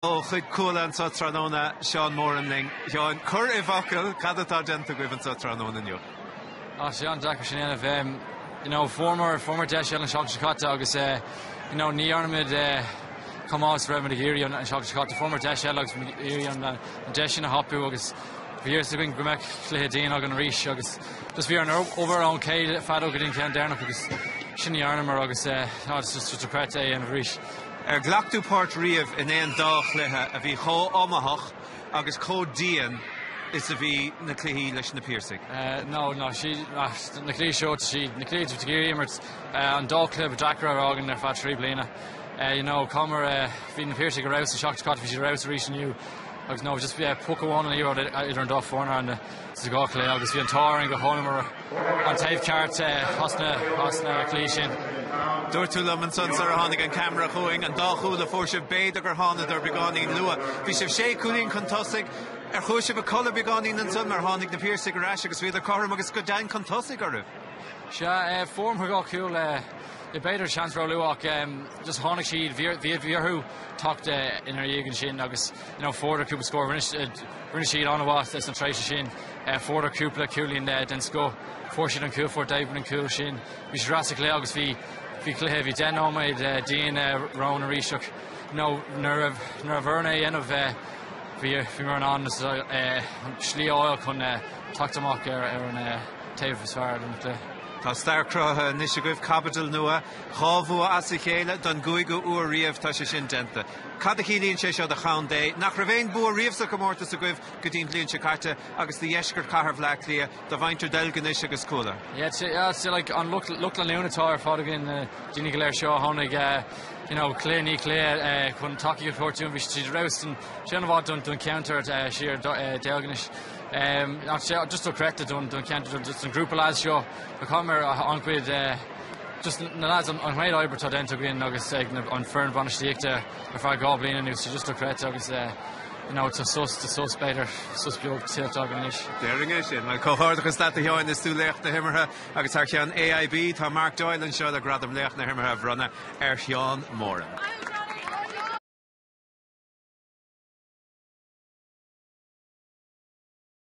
Ó chuig Cuala anseo tráthnóna, Seán Moran linn. Sheáin, cuir i bhfocail cad atá déanta agaibh anseo tráthnóna inniu? Ó sé an-deacair sin a dhéanamh. Em, you know, fuaireamar, fuaireamar deis eile an seachtain seo caite agus eh, you know, ní dhearna muid eh, chomh maith is a raibh muid ag iarraidh an seachtain seo caite. Fuaireamar deis eile agus muid ag iarraidh an deis sin a thapú agus bhí a fhios againn go mbeadh cluiche dian againn arís agus, Just bhí orainn obair le chéile fadó go dtí an ceann deireanach agus sin a dhearnamar agus eh no just just dochreidte é a dhéanamh arís. Ar ghlac tú páirt riamh in aon dá chluiche a bhí chomh hiomaíoch agus chomh dian is a bhí na cluichí leis na Piarsaigh? Eh no no siad na cluichí seo siad na cluichí a bhí tú ag iarraidh imirt eh an dá chluiche ba deacra a bhí againn ar feadh trí bliana eh you know mar eh bhí na Piarsaigh ar fheabhas an seachtain seo caite bhí siad ar fheabhas arís inniu agus no just eh puc amháin an liathróid idir an dá foirne sa gcluiche agus bhí an t-ádh orainn go dtángamar an taobh ceart as na cluichí sin. Dúirt tú liom ansan sar a tháinig an ceamara chugainn, an dá chúl a fuair sibh, b'fhéidir gur thánadar beagáinín luath. Bhí sibh sé cúilín chun tosaigh, ar chuaigh sibh a chodladh beagáinín ansan mar tháinig na Piarsaigh ar ais agus bhíodar cothrom agus go deimhin chun tosaigh oraibh? Sea, fuaireamar dhá chúl, b'fhéidir seans róluath ach just tháinig siad, bhí bhí bhí orthu teacht inár ndiaidh ansin agus you know fuaireadar cúpla scór rinne siad an-mhaith sna tréimhsí sin fuaireadar cúpla cúilín den scoth fuair siad an cúl fuair David an cúl sin bhí siad ar ais sa chluiche agus bhí bhí cluiche bhí deich nóiméad dian romhainn arís ach you know nuair a nuair a bhí orainn é a dhéanamh bhí bhíomar in ann slí a fháil chun teacht amach ar ar an taobh is fearr den chluiche. Tá stair cruthaithe anois agaibh, caibidil nua dhá bhua as a chéile don gcúigiú uair riamh tá sé sin déanta. Cad a chiallaíonn sé seo do chontae nach raibh aon bua riamh sa chomórtas agaibh go dtí an bhliain seo caite agus do dheisceart chathair Bhleá Cliath, do mhuintir Dheilginis agus Cuala? Yeah it's yeah it's like an lucht lucht leanúna atá ar fad againn eh, daoine go léir seo a tháinig eh, you know Cliath ní Cliath eh, chun tacaíocht a thabhairt dúinn bhí siad ar fheabhas sé an-mhaith don don cheantar eh, siar do eh, Deilginis eh, ach sé just dochreidte don don cheantar just an grúpa lads seo a chuireamar an-chuid eh, Just na lads an méid oibre atá déanta againn agus ag an an foireann bhainistíochta ar feadh dhá bhliain anuas tá just dochreidte agus eh you know tá sos tá sos b'fhéidir sos beag tuillte againn anois. Déarfainn é sin. Bhuel comhghairdeachas leat a Sheáin is tú laoch na himeartha agus thar ceann AIB tá Mark Doyle anseo le gradam laoch na himeartha a bhronnadh ar Sheán Moran.